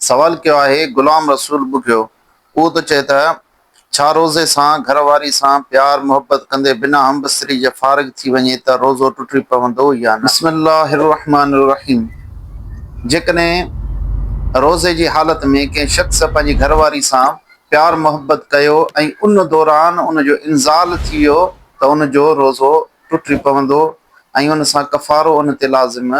سوال ڪيو آهي غلام رسول ٻگهيو، اهو ته چئه ته ڇا روزي سان گهر واري سان پيار محبت ڪندي بنا همبستري جي فارغ ٿي وڃي ته روزو ٽٽي پوندو يا نه؟ بسم الله الرحمٰن الرحيم جيڪڏهن روزي جي حالت ۾ ڪنهن شخص پنهنجي گهر واري سان پيار محبت ڪيو ۽ ان دوران ان جو انزال ٿي ويو ته ان جو روزو ٽٽي پوندو ۽ ان سان ڪفارو ان تي لازم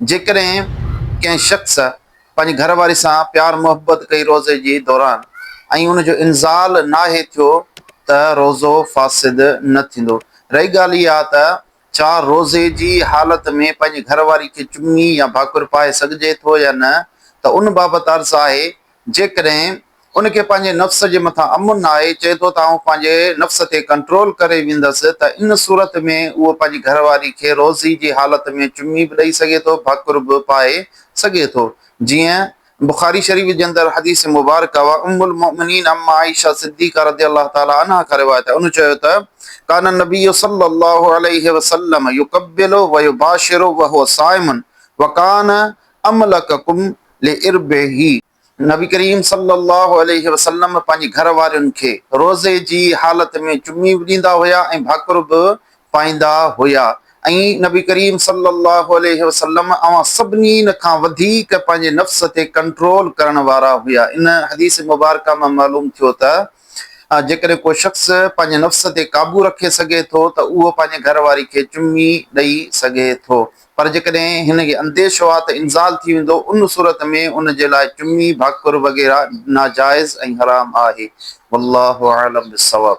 جيڪڏهن ڪنهن شخص پنهنجي گهر واري سان پيار محبت ڪئي روزي جي دوران ۽ ان جو انزال ناهي ٿيو ته روزو فاسد نه ٿيندو. رهي ڳالهه اها ته ڇا روزي جي حالت ۾ پنهنجي گهر واري کي چمي يا ڀاڪر پائي سگهجي ٿو يا نه ته ان بابت عرض آهي جيڪڏهن ان کي پنهنجي نفس جي مٿان امن نه آهي، چئي ٿو ته آئون پنهنجي نفس تي ڪنٽرول ڪري ويندس، ته ان صورت ۾ اهو پنهنجي گهر واري کي روضي جي حالت ۾ چمي به ڏئي سگهي ٿو، ڀاڪر به پائي سگهي ٿو. جيئن بخاري شريف جي اندر حديث مبارڪه اها ام المؤمنين ام عائشه صديقه رضي الله تعالٰي عنها کان روايت آهي، ان چيو ته، ڪان النبي صلّي الله عليه وسلّم يقبّل ويباشر وهو صائم، وڪان املڪکم لعربه. نبي ڪريم صلي الله عليه وسلم پنهنجي گهر وارين کي روزي جي حالت ۾ چمي به ڏيندا هيا ۽ ڀاڪر به پائيندا هيا ۽ نبي ڪريم صلي الله عليه وسلم اوهان سڀنين کان وڌيڪ پنهنجي نفس تي ڪنٽرول ڪرڻ وارا هيا ان حديث مبارڪه مان معلوم ٿيو ته ها جيڪڏهن ڪو شخص پنهنجي نفس تي قابو رکي سگهي ٿو ته اهو پنهنجي گهر واري کي چمي ڏئي سگهي ٿو پر جيڪڏهن هن کي انديشو آهي ته انزال ٿي ويندو ان صورت ۾ ان جي لاء چمي، ڀاڪر وغيره ناجائز ۽ حرام آهي. والله اعلم بالصواب.